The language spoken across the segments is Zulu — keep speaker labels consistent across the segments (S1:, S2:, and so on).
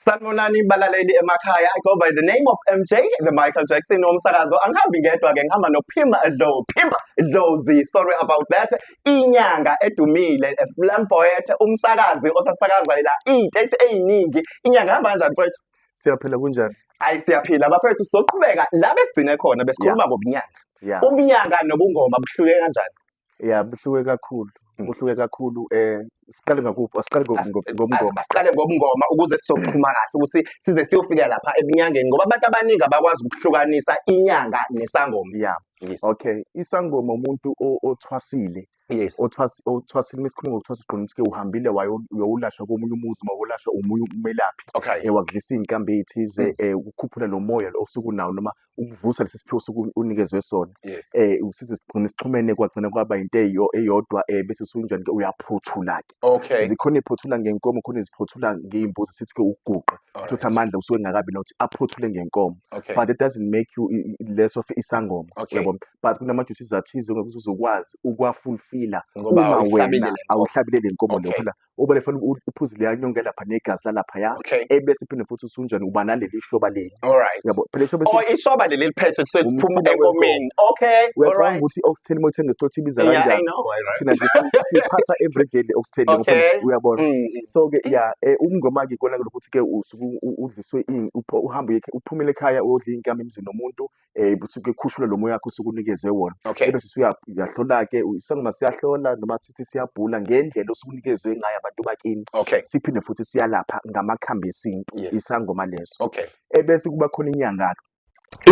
S1: Sanibonani balaleli emakhaya. I go by the name of MJ, the Michael Jackson womsakazo. Angihambi ngedwa ke ngihamba noPhimba Dlow. Phimba Dlowzy, sorry about that. Inyanga edumile, a slam poet, umsakazi osasakaza la iy'teshi ey'ningi. Inyanga hamba kanjani mfowethu? Siyaphila kunjani?
S2: Hayi siyaphila
S1: bafethu sizoqhubeka la besigcine khona besikhuluma ngobunyanga. Yeah. Ubunyanga nobungoma buhluke kanjani? ya buhluke
S2: kakhulu hmm. kuhluke kakhulu um siqale ngakuphi asiqale ngobungoma asiqale ngobungoma
S1: ukuze sizoxhuma kahle ukuthi size siyofika lapha ebunyangeni ngoba abantu abaningi abakwazi ukuhlukanisa inyanga nesangoma ya
S2: okay
S1: isangoma
S2: umuntu othwasile yes
S1: othwasile uma
S2: sikhuluma ngokuthwasa siqonda ukuthi-ke uhambile wayowulashwa komunye umuzi uma wolashwa omunye umelaphi okay um wakudlisa
S1: iy'nkambi
S2: ey'thize um ukukhuphula lo moya lo osuke unawo noma ukuvusa lesi siphiwo sokuthi unikezwe sona yes eh usize
S1: sigcine
S2: sixhumene kwagcina kwaba into eyo- eyodwa eh bese usunjani ke uyaphothula ke okay zikhona
S1: iphothula ngenkomo
S2: khona iziphothula ngeyimbuzi sithi ke ukuguqa Alright. futhi amandla usuke engakabi nokuthi aphothule ngenkomo okay but it doesn't
S1: make you
S2: i- i- less of isangoma Okay. uyabo but
S1: kunama duties
S2: athize ngokuthi uzokwazi ukwafulfila ngoba uma awuhlabile wena le
S1: nkomo. awuhlabile
S2: le nkomo leyo Okay. phela ubale fanele u- uphuze leya nyonga lapha negazi lalaphaya Okay. ebese phinde futhi
S1: usunjani
S2: uba naleli shoba leli All right. yabo phela ishoba Oh,
S1: esi-
S2: isoba leli liphethwe
S1: kusuke Umsila kuphuma wenkomo. enkomeni. Okay. All uyacabanga right. ukuthi i-oxtail
S2: uma uthenga esitolo ibiza Yeah, I kanjani know. All right. thina nje
S1: si- siphatha
S2: everyday le oxtail ngoba Okay. uyabona Mm, mm.
S1: so
S2: ke ya eh, umngoma ke kona lokuthi ke usuke u- u- udliswe ini upho- uhambe uye- uphumele ekhaya uyodla inkama emzini nomuntu eh usuke khushula lo moya wakho usuke unikezwe wona Okay. ebese usuya-
S1: uyahlolake
S2: isangoma siyahlola noma sithi siyabhula ngendlela osuke unikezwe ngayo abantu bakini Okay. siphinde futhi
S1: siyalapha
S2: ngamakhambi esintu Yes. isangoma leso
S1: Okay.
S2: ebese kuba
S1: khona
S2: inyanga-ke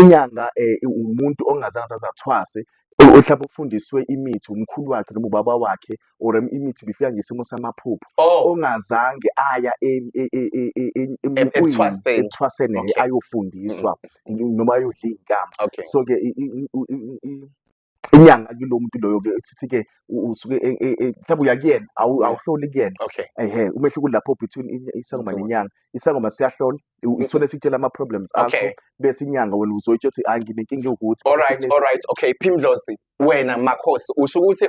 S2: inyanga eh, umuntu ongazange azazathwase o- ohlaba ufundiswe imithi umkhulu wakhe noma ubaba wakhe or imithi bifika ngesimo samaphupho oh. ongazange aya ethwaseni okay. ayofundiswa mm. noma ayodla iy'nkamba okay. so ke inyanga kulo muntu loyo ke sithi ke usuke e, e, e, mhlawumbe uya kuyena awuhloli kuyena okay ehe umehluko
S1: lapho between
S2: isangoma nenyanga isangoma siyahlola isona sikutshela ama problems akho bese inyanga wena uzoyitsho ukuthi hayi nginenkinga ukuthi all right all right okay
S1: phimdlozi wena makhosi usho ukuthi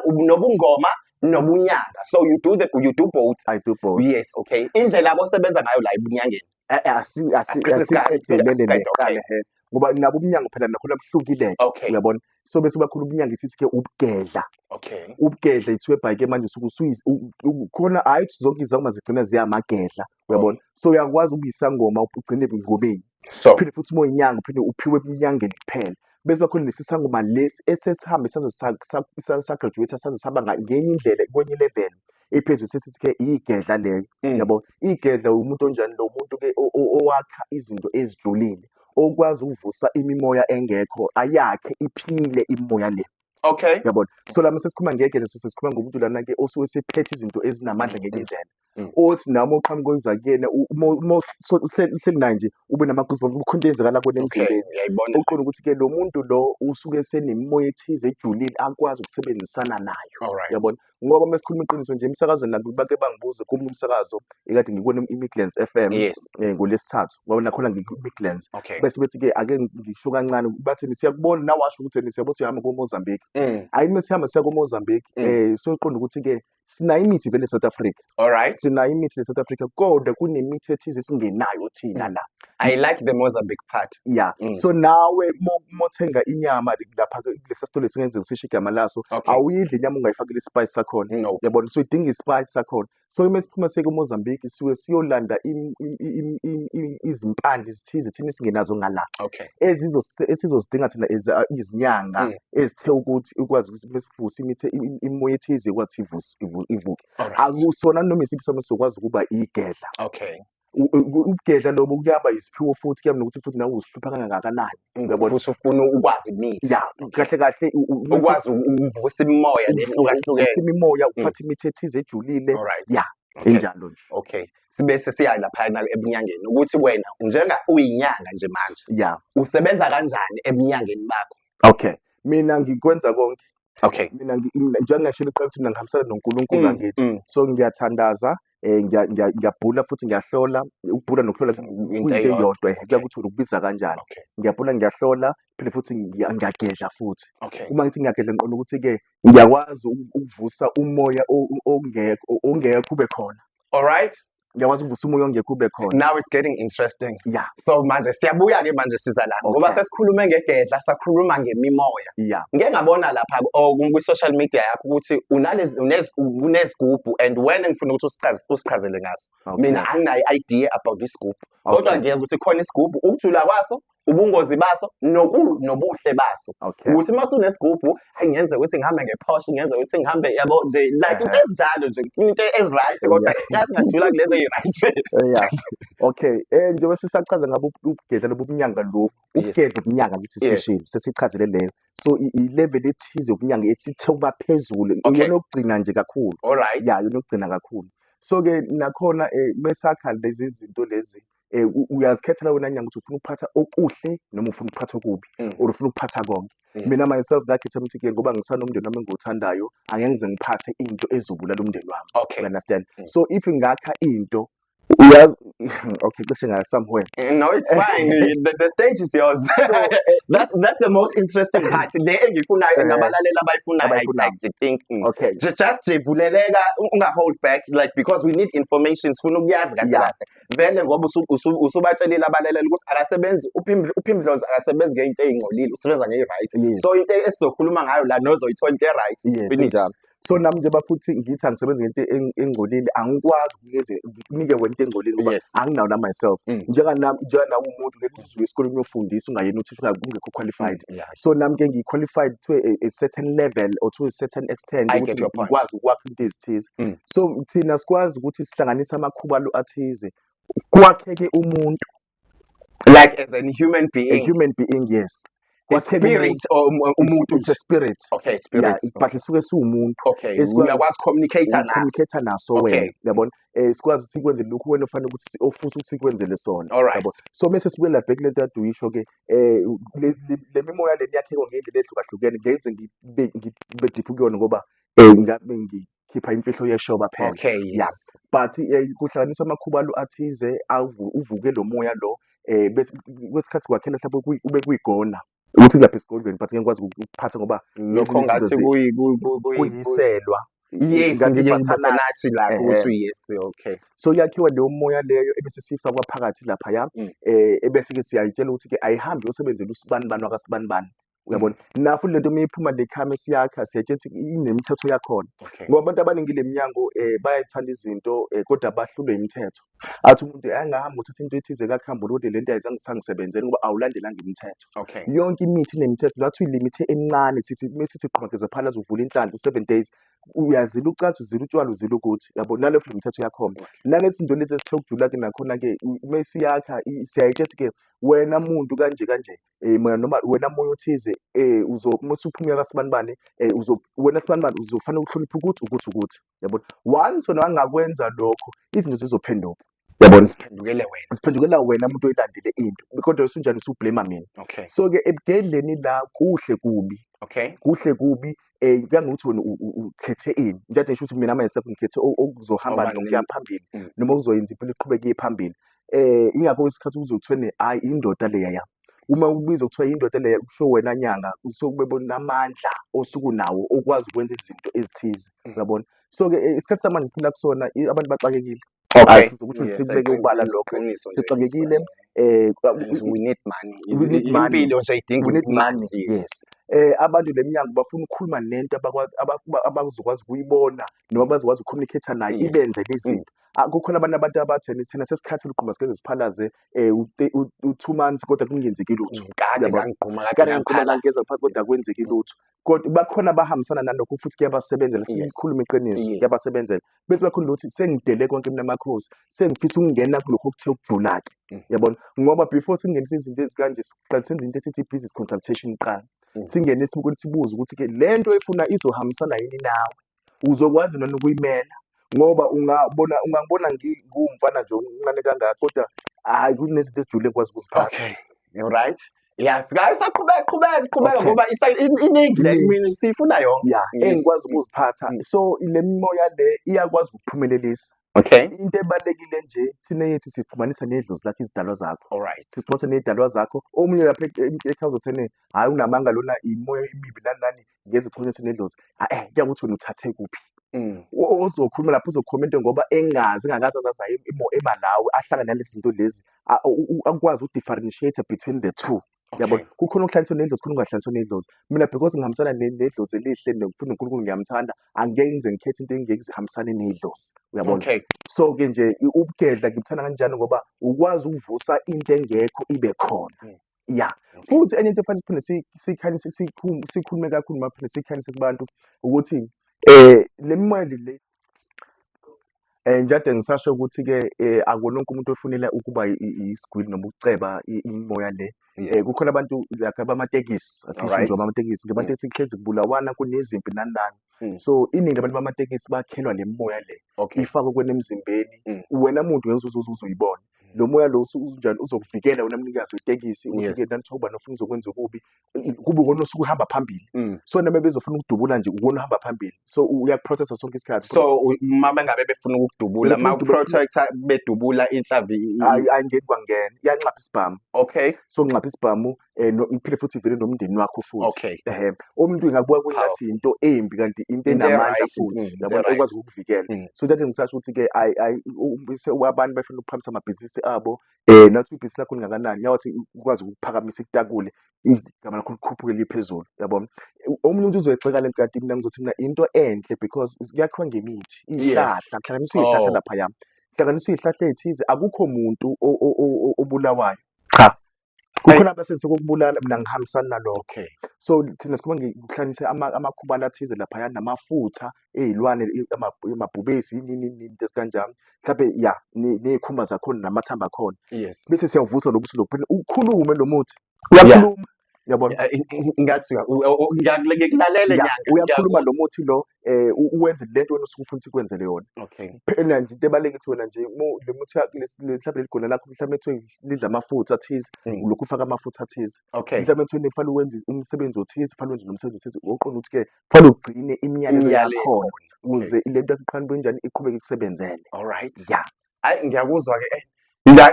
S1: unobungoma nobunyanga so you do the you do both i do both yes
S2: okay indlela
S1: akosebenza ngayo la ibunyangeni eh, eh, asiqedelele
S2: neqale he ngoba nabo umnyango phela nakhona buhlukile uyabona
S1: so bese bakhulu
S2: umnyango ithi ke ubugedla okay
S1: ubugedla ithiwe bhayike
S2: manje usuke usuyikhona hayi zonke izangoma zigcina ziyamagedla uyabona so uyakwazi ukuyisangoma ugcine ebungomeni so phinde futhi uma uyinyanga uphinde uphiwe ebunyangeni kuphela bese bakhona lesi sangoma lesi esesihambe saze sa- sa- sa- sagraduate saze saba nga- ngenye indlela kwenye level ephezulu sesithi ke iyigedla leyo mm. yabo igedla umuntu onjani lo muntu ke o- o- owakha izinto ezijulile okwazi ukuvusa imimoya engekho ayakhe iphile imimoya le okay yabona
S1: so lama
S2: sesikhuluma ngegedla so sesikhuluma ngomuntu lana ke osuke sephethe izinto ezinamandla ngenye indlela Mm. othi nami oqhamuka okwenza kuyena u- uma uma uhl- uhleli uhleli naye nje ube nama-goosebumps kukhona into eyenzakala kuwena okay emzimbeni ngiyayibona okuqonda ukuthi ke lo muntu lo usuke esenemimoya ethize ejulile akwazi ukusebenzisana nayo all right yabona ngoba uma sikhuluma iqiniso nje emsakazweni lantu bake bangibuze komunye umsakazo ekade ngikona i-midlands f m yes um ngolesithathu
S1: ngoba
S2: nakhona ngikwi-midlands okay bese bethi-ke
S1: ake
S2: ngisho kancane bathini siyakubona nawasho ukuthi eni siyabo ukuthi uyahamba komozambique Mm, ayi uma sihamba siya komozambique Mm. um soqonda ukuthi-ke sinayo imithi vele South Africa all right sinayo imithi
S1: le South Africa
S2: kodwa kunemithi ethize singenayo thina la I like the Mozambique
S1: part. Yeah. Mm. So
S2: nawe mo- mothenga inyama li- lapha ke- kulesa sitolo esingenzeka sisho igama laso Okay. awuyidli inyama ungayifakile isipayi sakhona No. yabona so idinga isipayi sakhona so uma siphuma siye kumozambique siwe siyolanda im- im- im- im- im- izimpande zithize thina esingenazo ngala Okay. ezizose-
S1: esizozidinga
S2: thina as a- izinyanga Mm. ezithe ukuthi ukwazi ukuthi bese- ukuvusa imithe im- imimoya ethize ekwathi ivuse- ivu- ivuke Alright. akusona noma isiphi isimo sokwazi ukuba igedla Okay.
S1: U- u- ukugedla
S2: lobo kuyaba yisiphiwo futhi kuyaba nokuthi futhi nawe uzihlupha kangakanani Ngoba Yabona? usufuna
S1: ukwazi imithi. ya kahle kahle
S2: u- u- uma se- Ukwazi
S1: ukuvusa imimoya uvu- lehlukahlukene. uvusa imimoya uphatha
S2: imithi ethize ejulile Alright. ya Okay. injalo nje Okay. Sibe
S1: sesiya lapha na ebunyangeni ukuthi wena njenga uyinyanga nje manje ya usebenza
S2: kanjani
S1: ebunyangeni bakho? okay mina
S2: ngikwenza konke okay mina
S1: njengoba
S2: ngashilo qala ukuthi mina ngihambisana noNkulunkulu mm, angithi mm. so ngiyathandaza eh ngiyabhula futhi ngiyahlola ukubhula nokuhlola into eyodwa kuyakuthi ukubiza kanjani ngiyabhula ngiyahlola phinde futhi ngiyagedla futhi uma ngithi ngiyagedla ngiqonda ukuthi ke ngiyakwazi ukuvusa umoya ongekho ongekho ube khona all right ngiyakwazi ukuvusa umoya ongekho ube khona now it's getting interesting
S1: yeah so manje
S2: siyabuya
S1: ke manje siza la ngoba sesikhulume ngegedla sakhuluma ngemimoya yeah ngeke ngabona
S2: lapha
S1: oh, ku social media yakho ukuthi unalezi unezigubhu and when ngifuna ukuthi usichaze usichazele ngaso mina anginayo idea about isigubhu kodwa ngiyeza ukuthi khona isigubhu ukujula kwaso ubungozi baso noku nobuhle baso Okay. ukuthi uma usunesigubhu hayi ngenze ukuthi ngihambe ngephoshe ngenze ukuthi ngihambe yabo nje like into Ehhe. ezinjalo nje ngifuna into ezi-right kodwa kazi ngajula kulezo eyi-right Yeah.
S2: Okay. Eh njengoba sisachaza ngabo ubugedla lobunyanga lo, Yes. ubugedla ubunyanga ukuthi Yes. sishilo, sesichazele leyo. So i- i level ethize ubunyanga esithe ukuba phezulu, Okay. iyona okugcina nje kakhulu. all right Yeah, yona okugcina
S1: kakhulu.
S2: So ke nakhona eh mesakha lezi zinto lezi eh, u- uyazikhethela wena nyanga ukuthi ufuna ukuphatha okuhle noma ufuna ukuphatha okubi Mm. or ufuna ukuphatha konke Yes. mina myself ngakhetha ukuthi ke ngoba ngisanomndeni wami engiwuthandayo angeke ngize ngiphathe into ezobulala umndeni wami okay you understand Mm. so if ngakha into uyazi okay cishe ngaya somewhere Eh, no it's fine
S1: the, the stage is yours that, that's the most interesting part le engifunayo Eh. nabalaleli abayifunayo I, I, Abayifunayo. I think mm. okay Ju- just
S2: jevuleleka
S1: u- unga hold back like because we need information sifuna ukuyazi kahle Yeah. kahle vele ngoba usubatshelile abalaleli ukuthi akasebenzi uphimdlozi akasebenzi ngeyinto eyingcolile usebenza ngeyi-right so into esizokhuluma ngayo la nozoyithola into e-right njalo so nami
S2: njengoba futhi ngithi angisebenzi ngento engcolile angikwazi ukunike wena into engcolile ngoba anginawo na myself mm. njenganami njenganami umuntu ngeke usuke esikoleni uyofundisa ungayena uthi ufika kungekho qualified Mm, yeah. so nami ke ngiyi-qualified to a, a certain level or to a certain extent I ukuthi get your point. ngikwazi ukwakha into ezithize Mm. so thina sikwazi ukuthi sihlanganise amakhubalo athize kwakheke umuntu like
S1: as a human a being human being yes
S2: What can we- spirit
S1: or um, umuntu it's a spirit okay
S2: yeah, spirit it-
S1: but isuke
S2: siwumuntu okay Esikwazi- uyakwazi
S1: communicate naso communicate naso Okay.
S2: wena yabona eh sikwazi sikwenze lokhu wena ofanele ukuthi si- ofisa ukuthi sikwenzele sona Alright. yabo so mase
S1: sibuyela back
S2: lento ade uyisho ke eh le- le- le mimoya le yakheko ngendlela ehlukahlukene ngenze ngibe ngibe deep kuyona ngoba eh ngabe ngi- khipha imfihlo yeshoba phela okay yes. yeah.
S1: but eh,
S2: kuhlanganisa amakhubalu athize avu- uvuke lo moya lo eh bese kwesikhathi kwakhela mhlawumbe kuyi- kube kuyigona ukuthi kulapha esigodlweni but ngeke ngikwazi uku- ukuphatha ngoba lokho ngezinye izinto ngathi zi- kuyi-
S1: kuyi- kuyi- kuyi- kuyi-
S2: kuyiselwa yes
S1: ngathi ngike ngibatha ngibatha nathi nathi la ehe ukuthi yes okay so yakhiwa leyo
S2: moya leyo ebese siyifakwa phakathi laphaya Mm. eh ebese-ke siyayitshela ukuthi-ke ayihambi yosebenzela usibani bani wakasibani bani uyabona mm. nafu lento uma iphuma le khame siyakha siyatshethi inemithetho yakhona ngoba abantu abaningi le mnyango um eh, bayayithanda izinto um kodwa bahlulwe imithetho athi umuntu angahambi uthatha into ethize kakuhambi kodwa le nto ayisangisebenzeli ngoba awulandelanga imithetho yonke imithi inemithetho ngathi uyilimithe emincane sithi uma sithi qhumageza phalaza uvula inhlanhla u-seven days uyazila ucansi uzila utshwala uzila ukuthi yabo nalokho le mithetho yakhona nalethi nto lezi esithe ukujula-ke nakhona-ke uma siyakha siyayitshethi-ke wena muntu kanje kanje eh mina noma wena moya othize eh uzo uma usuphumela kasibanibani eh uzo wena sibanibani uzofanele ukuhlonipha ukuthi ukuthi ukuthi yabona once wena wangakwenza lokho izinto zizophenduka yabona Ziphendukele wena. ziphendukela wena umuntu oyilandile into kodwa usunjani usublema mina Okay. so ke ebudedleni la kuhle kubi Okay. kuhle kubi um kuya ngokuthi wena ukhethe ini njengathi ngisho ukuthi mina myself ngikhethe okuzohamba Awubani nokuya nini? phambili Mm. noma okuzoyenza impilo iqhubeke iye phambili um ingakho isikhathi ukuze kuthiwe ne hhayi indoda leya yami uma ubiza kuthiwa indoda leya kusho wena nyanga kusuke kubebona amandla osuke unawo okwazi ukwenza izinto ezithize Mm. uyabona so-ke eh, isikhathi samanje siphila kusona i- abantu baxakekile Okay. Asithi ukuthi Yes, sikubeke iqiniso, ubala iqiniso, lokho. iqiniso nje, Sixakekile yes, eh kwa- yes, we
S1: need money. we need I- money. Impilo nje idinga we need imali, money
S2: yes. yes eh abantu leminyango bafuna ukukhuluma nento abakwa- aba- aba- abazokwazi ukuyibona noma bazokwazi ukucommunicate nayo Yes. ibenze izinto Ah, kukhona abantu abantu abatheni thina sesikhathi luqhuma sikeze siphalaze eh u- te- u- u two months kodwa kungenzeki lutho Kade Uyabo? ngangigquma
S1: kade kade ngiqhuma ngangiphansi
S2: ngangiphansi kodwa kwenzeki lutho kodwa bakhona abahambisana nalokho futhi kuyabasebenzela sikhuluma iqiniso kuyabasebenzela bese bakhona ukuthi sengidele konke mina makhosi sengifisa ukungena kulokho okuthe ukujula-ke mm. yabona ngoba before singenisa izinto ezikanje siqale senze into esithi i-business consultation kuqala mm. singene sibuke sibuze ukuthi-ke le nto efuna izohambisana yini nawe uzokwazi nani ukuyimela ngoba ungabona ungangibona ngiwumfana nje omncane kangaka kodwa hhayi kunezinto ezijule ngikwazi ukuziphatha okay you right
S1: ya sikayo saqhubeka qhubeka qhubeka ngoba iningi le imini siyifuna yonke ya engikwazi ukuziphatha
S2: mm. so le mimoya le iyakwazi ukuphumelelisa Okay. Into ebalekile nje thina yethu sixhumanisa nedlozi lakho izidalwa zakho. Alright. Sixhumanisa nezidalwa
S1: zakho.
S2: Omunye lapha ekhaya uzothene, hayi unamanga lona imoya imibi nani nani. ngeze khona ukuthi nedlozi ah, eh kuya ukuthi wena uthathe kuphi mm. ozokhuluma lapho uzokhuluma into ngoba engazi engakazi azaza imo emalawi ahlangane nalezi zinto lezi akwazi ukudifferentiate between the two yabo kukhona okuhlaniswa nedlozi khona ungahlaniswa nedlozi mina because ngihambisana nedlozi elihle nokufuna uNkulunkulu ngiyamthanda angeke ngize ngikhethe into engeke zihambisane nedlozi uyabona okay. so ke nje ubugedla ngikuthanda kanjani ngoba ukwazi ukuvusa into engekho ibe khona mm. ya futhi enye into efanele siphinde si- siyikhanyise sikhum- sikhulume kakhulu noma phinde siyikhanyise kubantu ukuthi um le mali le um njade ngisasho ukuthi-ke um akuwona wonke umuntu ofunela ukuba i- i- isigwili noma ukuceba i- imimoya le um yes kukhona abantu like abamatekisi asisho nje alright abamatekisi njengoba mm. tethi kuhlezi kubulawana kunezimpi nani nani Mm. so iningi labantu bamatekisi bakhelwa le mimoya le okay ifakwe kwena emzimbeni mm. wena muntu ngeke uzuze uze uzoyibona lo moya lo usu- unjani uzokuvikela wena mnikazi wetekisi ukuthi Yes. ke nanithoba nofuna uzokwenza okubi i- kube wona osuke uhamba phambili Mm. so noma bezofuna ukudubula nje uwona uhamba phambili so uyakuprotesta sonke isikhathi so u- uma
S1: bengabe befuna ukudubula Befuna ma ukudubula, uprotector bedubula inhlavi i- i- ayi ayi ngeke kwangena
S2: iyanxapha isibhamu okay so nxapha isibhamu eh no- ngiphinde futhi ivele nomndeni wakho futhi okay ehe umuntu ingakubuka kwengathi Powerful. into embi kanti into Into enamandla e-right, futhi mm, into yabona e-right. ekwazi ukukuvikela Mm. so that ngisasho ukuthi ke ayi ayi u- u- se- abantu bafuna ukuphakambisa amabhizinisi abo eh nathi ibhizinisi lakho lingakanani yawathi ukwazi ukuphakamisa itakule igama lakho likhuphuke liye phezulu yabona U- omunye umuntu uzoyixeka lento kanti mina ngizothi mina into enhle because is- kuyakhiwa ngemithi Yes. iyihlahla kuhlanganiswa iyihlahla Oh. lapha yami kuhlanganiswa iyihlahla ethize akukho muntu o- o- o- o- obulawayo cha kukhona abasenze kokubulala mina ngihambisana nalokho okay so thina sikhuma ngikuhlanise amakhubala athize laphaya namafutha ezilwane amabhubesi yini into esikanjani mhlawumbe ya nezikhumba zakhona namathamba akhona yes bese siyavusa lokuthi lokho ukhulume lo muthi uyakhuluma yabona ngathi
S1: ngiyakulalela nyanga uyakhuluma lo muthi
S2: lo eh uwenze lento wena usuke ufuna ukuthi kwenzele yona okay phela nje into ebaleke ukuthi wena nje le muthi mhlawumbe leligona lakho mhlawumbe kuthiwe lidla amafutha athize mm. ulokhu ufaka amafutha athize okay mhlawumbe kuthiwe kufanele uwenze umsebenzi othize kufanele uwenze nomsebenzi othize uqonda ukuthi ke kufanele ugcine imiyalelo yakhona ukuze lento yakuqhanuka kanjani iqhubeke ikusebenzele all right yeah
S1: hayi ngiyakuzwa ke eh,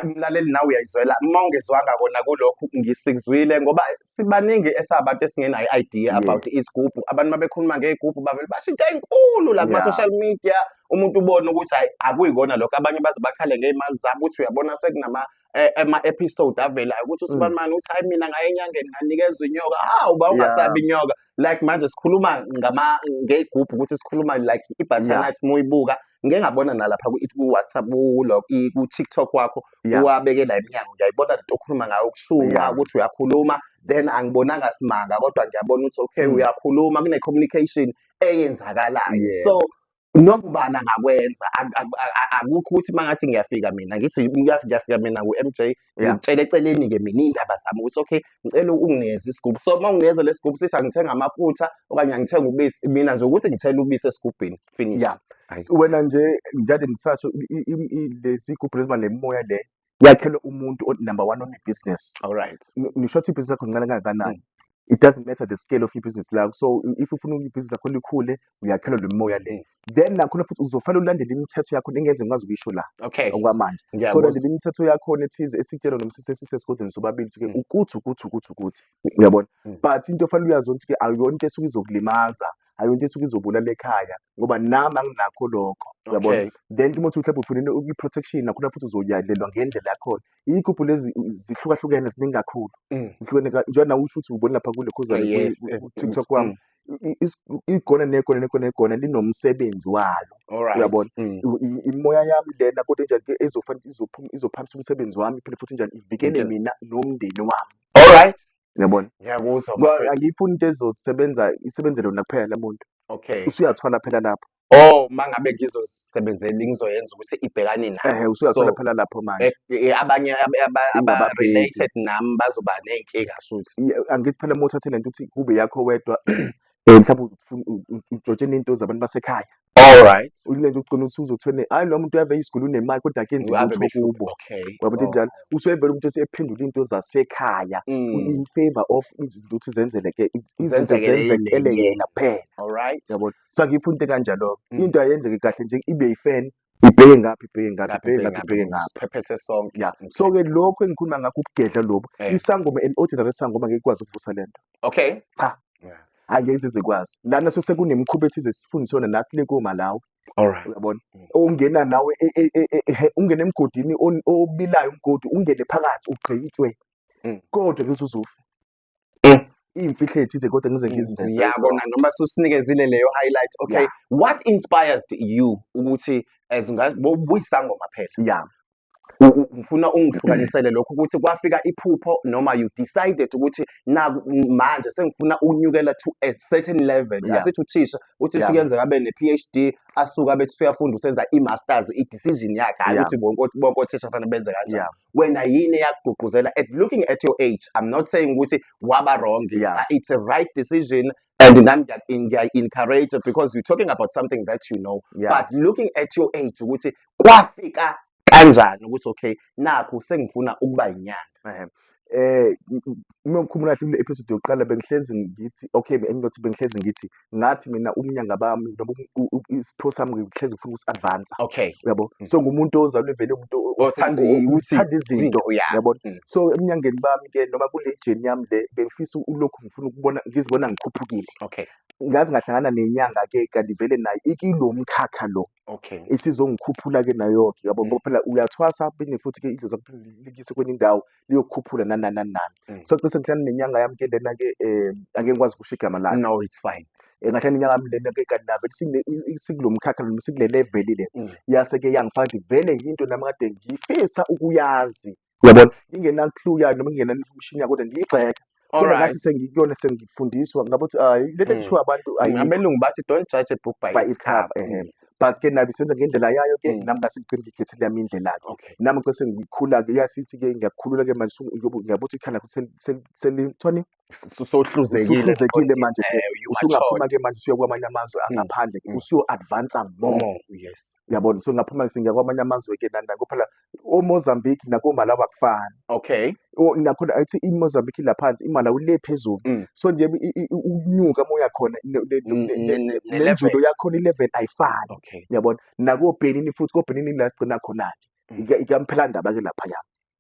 S1: mlaleli nawe uyayizwela uma ungezwanga kona kulokhu ngisikuzwile ngoba sibaningi esabantu esingenayo i-idea about izigubhu abantu mabekhuluma ngey'gubhu bavele basho into enkulu la kuma-social media umuntu ubone ukuthi hayi akuyikona lokho abanye baze bakhale ngey'mali zabo ukuthi uyabona sekunama eh, ama-episode avelayo ukuthi usibanibani mm. uthi hayi mina ngaye enyangeni nganikezwa inyoka hawu ba ungasabi inyoka like manje sikhuluma ngama ngeyigubhu ukuthi sikhuluma like i-butternut muyibuka ngike ngabona nalapha ku-whatsapp ku-tiktok wakho uwabekela iminyango ngiyayibona lento okhuluma ngayo ukushuma ukuthi uyakhuluma then angibonanga simanga kodwa ngiyabona ukuthi okay mm. uyakhuluma kune-communication eyenzakalayo so noma ubani angakwenza Ak- ak- ak- akukho ukuthi uma ngathi ngiyafika mina ngithi ngiyaf- ngiyafika mina ku-mj Yeah. ngikutshela eceleni-ke mina iy'ndaba zami ukuthi okay ngicela ungineze isigubhu so uma ungineze lesi gubhu sithi angithenga amafutha okanye angithenga ubisi mina nje ukuthi ngithele ubisi esigubhini finish Yeah. Ayi. wena nje
S2: njalo ndisasho i- i- i- i- lezi gubhu leziba nemimoya le yakhelwe umuntu o- number one onebhizinesi all right Ng- ngisho ukuthi ibhizinisi lakho lincane kangakanani it doesn't matter the scale of ibhizinisi lakho so i- if ufuna ibhizinisi lakho likhule uyakhelwa lo mimoya le then nakhona futhi uzofanele ulandele imithetho yakho engenze ngikwazi ukuyisho la okay okwamanje so ngiyakuzwa landela imithetho yakho ethize esityelwa noma sisesise esigodlweni sobabili ukuthi Mm. ukuthi ukuthi ukuthi ukuthi uyabona Mm. but into ofanele uyazi ukuthi awuyona into esuke izokulimaza hayi into esuke izobulala ekhaya ngoba nami anginakho lokho yabo Okay. then uma uthi mhlawumbe ufunele i-protection nakhona futhi uzoyalelwa ngendlela yakhona iy'gubhu lezi uh, zihlukahlukene ziningi kakhulu Mm. zihlukene ka- njengoba nawe usho ukuthi ubone lapha kule khuzane ku- Yes, ku- eh, ku- tiktok mm, kwami I- i- is- igona negona negona negona linomsebenzi walo All right. Uyabona? Mm. I- i- imoya yami lena kodwa enjani ke ezofanele izophum- izophakamisa umsebenzi wami iphinde futhi njani ivikele Ngitshela. mina nomndeni wami All right. Uyabona? Ngiyakuzwa Kwa- bafethu.
S1: Angiyifuni into
S2: ezosebenza isebenzele wena kuphela le muntu. Okay. Usuyathwala phela lapho. Oh, mangabe
S1: ngizosebenzela ngizoyenza ukuthi ibhekane nami. Ehhe usuyathwala So, phela lapho manje.
S2: eh, eh, abanye ab-
S1: aba- aba Ingababheki. related nami bazoba ney'nkinga shuthi. Ye- Angithi phela uma uthathe
S2: lento uthi kube yakho wedwa eh, mhlawumbe ufuna u- u- ujotshele into zabantu basekhaya. Alright. Ululele uqina ukuthi uzothwene. Hayi lo muntu uyave isigulu unemali kodwa ke nje Ave utho behluke. kubo. Okay. Uyabo into enjalo. Usevele umuntu esephendula into zasekhaya Mm. in favor of izinto ukuthi zenzele ke iz- izinto Zenzekele zenzekele yena. yena kuphela. Alright. Yabo. So akuyiphi into kanjalo. Mm. Into ayenzeke kahle nje ibe yifan. Ibheke ngaphi ibheke ngaphi Lapho ibheke ngaphi ibheke ngaphi.
S1: Siphephese sonke. Yeah. Okay. So ke lokho
S2: engikhuluma ngakho ukugedla lobo. Eh. Isangoma an ordinary sangoma ngeke ikwazi ukuvusa lento. Okay. Cha. Yeah. angeke zikwazi lana sesekunemikhuba ethize sifundiswe nathi le koMalawi Alright. Uyabona?
S1: Mm. Ungena
S2: nawe e, e, e, ungena emgodini obilayo umgodi ungene phakathi ugqitshwe. Mm. Kodwa bese uzofa. Mm. Imfihlo ethize kodwa ngize ngizizwe. Ngiyabona noma
S1: susinikezile leyo highlight. Okay. What inspired you ukuthi as ngabuyisangoma phela? Yeah.
S2: ngifuna
S1: ungihlukanisele lokho ukuthi kwafika iphupho noma you decided ukuthi na manje sengifuna ukunyukela to a certain level yeah. asithi uthisha
S2: uthi yeah.
S1: sukenzeka abe ne-phd asuka bethi suyafunda usenza i-masters i-decision yakhe hayi ukuthi bonke othisha
S2: kufanele
S1: benze kanjani yeah. wena yini eyakugqugquzela at looking at your age i'm not saying ukuthi waba wrong yeah. it's a right
S2: decision
S1: and nami ngiyayi-encourage because you're talking about something that you know yeah. but looking at
S2: your
S1: age ukuthi kwafika kanjani ukuthi okay nakho sengifuna ukuba yinyanga eh
S2: uma ngikhumula kahle kule episode yokuqala bengihlezi ngithi okay enginothi bengihlezi ngithi ngathi mina umnyanga bami noma isipho sami ngihlezi ngifuna ukusi advance okay uyabo mm.
S1: so ngumuntu
S2: ozalwe vele umuntu othanda
S1: izinto
S2: uyabo mm. so emnyangeni bami ke noma kule jeni yami le bengifisa ulokhu ngifuna ukubona ngizibona ngikhuphukile okay ngazi
S1: ngahlangana
S2: nenyanga ke kanti vele nayo ikilo mkhakha lo okay isizongikhuphula
S1: ke
S2: nayo ke yabo mm. ngoba phela uyathwasa phinde futhi ke idlozi likise kwenye indawo liyokukhuphula nanani nanani mm. so cishe ngihlala nenyanga yami ke lena ke eh ake ngikwazi ukusho igama lakhe no it's fine
S1: eh, ngathi nenyanga yami lena
S2: ke kanti nave sikulo mkhakha noma sikule level le mm. yase ke yangifaka vele into nami kade ngifisa ukuyazi Uyabona? Ngingena clue yayo noma ngingena information yayo kodwa ngiyigxeka. Kodwa Alright. ngathi sengikuyona sengifundiswa ngabo ukuthi hayi le nto Mm. kushiwo abantu ayikho. Abelungu bathi don't
S1: judge a book by, By its cover, ehe. But ke nabi senza
S2: ngendlela yayo ke Mm. nami ngase ngigcine ngikhethe lami indlela ke. Okay. Nami ke
S1: sengikhula
S2: ke yasithi ke ngiyakhulula ke manje sungu- uyobu- ngiyabuthi ikhala ukuthi seli- seli- selithoni sohluzekile manje eh, usungaphuma ke manje usuya kwamanye amazwe mm, angaphandle mm. usuyo-advansa more yes uyabona
S1: so ngaphuma ke
S2: sengiya kwamanye amazwe ke nanako phela omozambique nakomalawi akufani okay
S1: nakhona athi
S2: imozambique laphansi imalawi le phezulu mm. so nje ukunyuka moya khona nenjulo yakhona i-level ayifani uyabona
S1: nakobenini
S2: futhi kobenini la sigcina khona-ke ikamphelandaba ke laphaya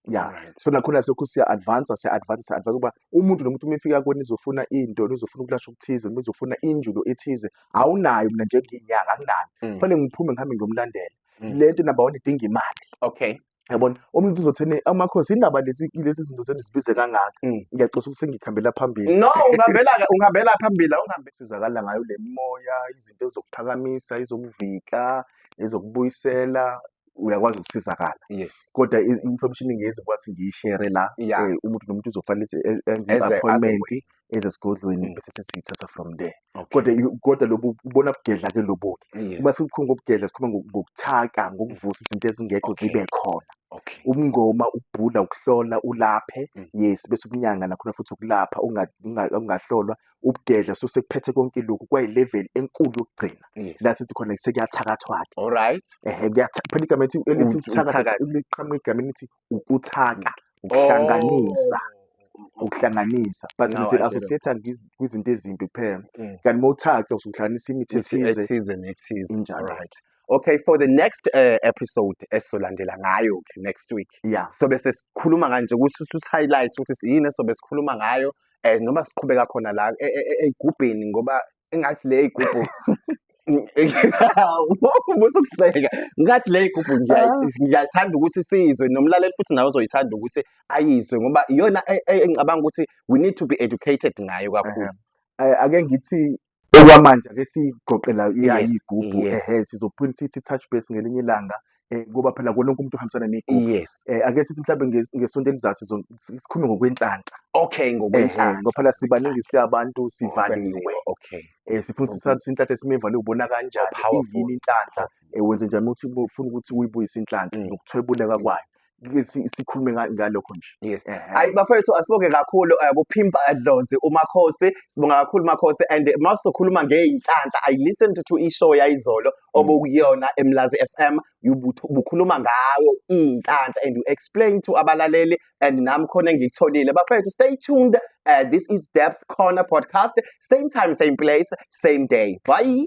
S2: ya Alright. so nakhona selokhu siya advance siya advance siya advance ukuba umuntu nomuntu uma efika kuwe nizofuna into nizofuna ukulashwa okuthize nizofuna injulo ethize awunayo mina njengiyinyanga anginayo Mm. kufanele ngiphume ngihambe ngiyomlandela Mm. le nto number one idinga imali Okay. yabona
S1: umuntu
S2: uzothene amakhosi indaba lezi lezi zinto zenu zibize kangaka Mm. ngiyaxosa ukuthi sengikhambela phambili No, ungihambela
S1: ungihambela phambili awungihambe. sizakala ngayo
S2: le moya izinto ezokuphakamisa ezokuvika ezokubuyisela uyakwazi ukusizakala yes kodwa
S1: i- information
S2: engezi kwathi ngiyishere la Yeah. eh, umuntu nomuntu uzofanele ukuthi e- enze Eze- aze i-appointment kuwe. eze esigodlweni Mm. bese sesiyithatha from there okay kodwa i- kodwa lobu ubona bugedla ke lobu yes uma sikukhuluma ngobugedla sikhuluma ngo- ngokuthaka ngokuvusa izinto ezingekho Okay. zibe khona okay ubungoma
S1: ukubhula
S2: ukuhlola ulaphe Mm. yes bese ukunyanga nakhona futhi ukulapha unga- unga- ungahlolwa ubudedla so sekuphethe konke lokhu kwayilevel enkulu yokugcina Yes. la sithi khona sekuyathakathwa-ke All right. ehe kuyatha-
S1: phela igama
S2: elithi elithi Uthi ukuthakatha uthakathe. liqhamuka egameni elithi ukuthaka ukuhlanganisa Oh. ukuhlanganisa but Now I nise get it. associate kwizinto ezimbi kuphela Mm. kanti uma uthaka usuhlanganisa imithi Ithi ethize ethize nethize. Injalo. All right.
S1: Okay, for the next uh, episode esizolandela ngayo ke next week. ya Sobe sesikhuluma kanje ukuthi uthi highlight ukuthi yini esobe sikhuluma ngayo eh noma siqhubeka khona la e, e, e, eyigubhini ngoba engathi le igubhu musa ukuhleka ngathi le igubhu ah. ngiyathanda ukuthi siyizwe nomlaleli futhi nawe uzoyithanda ukuthi ayizwe ngoba iyona engicabanga ukuthi we need to be educated ngayo kakhulu ake ngithi
S2: Okwamanje ake siyiqoqela iyayigubhu ehe sizophinde sithi touch base ngelinye ilanga eh, ngoba phela kuwona wonke umuntu uhambisana negubhu. Yes. Eh, ake sithi
S1: mhlawumbe nge-
S2: ngesonto elizayo sizo- sikhulume ngokwenhlanhla. Okay, Ehe, ngokwenhlanhla.
S1: ngoba phela sibaningi
S2: siyabantu sivaliwe. Okay. Eh,
S1: sifuna ukuthi sazi
S2: inhlanhla esimivale ubona kanjani Powerful. iyini inhlanhla eh, wenze njani uma uthi ufuna ukuthi uyibuyise inhlanhla Mm. nokuthwebuleka kwayo sikhulume ngalokho nje yes hayi bafethu
S1: asibonge kakhulu eh, kuphimpa adlozi umakhosi sibonga kakhulu makhosi and mawusokhuluma ngeyinhlanhla i listened to ishow yayizolo mm. obukuyona emlazi FM ubukhuluma ngawo inhlanhla and you explain to abalaleli and nami khona engikutholile bafethu stay tuned uh, this is Debs Corner podcast same time same place same day bye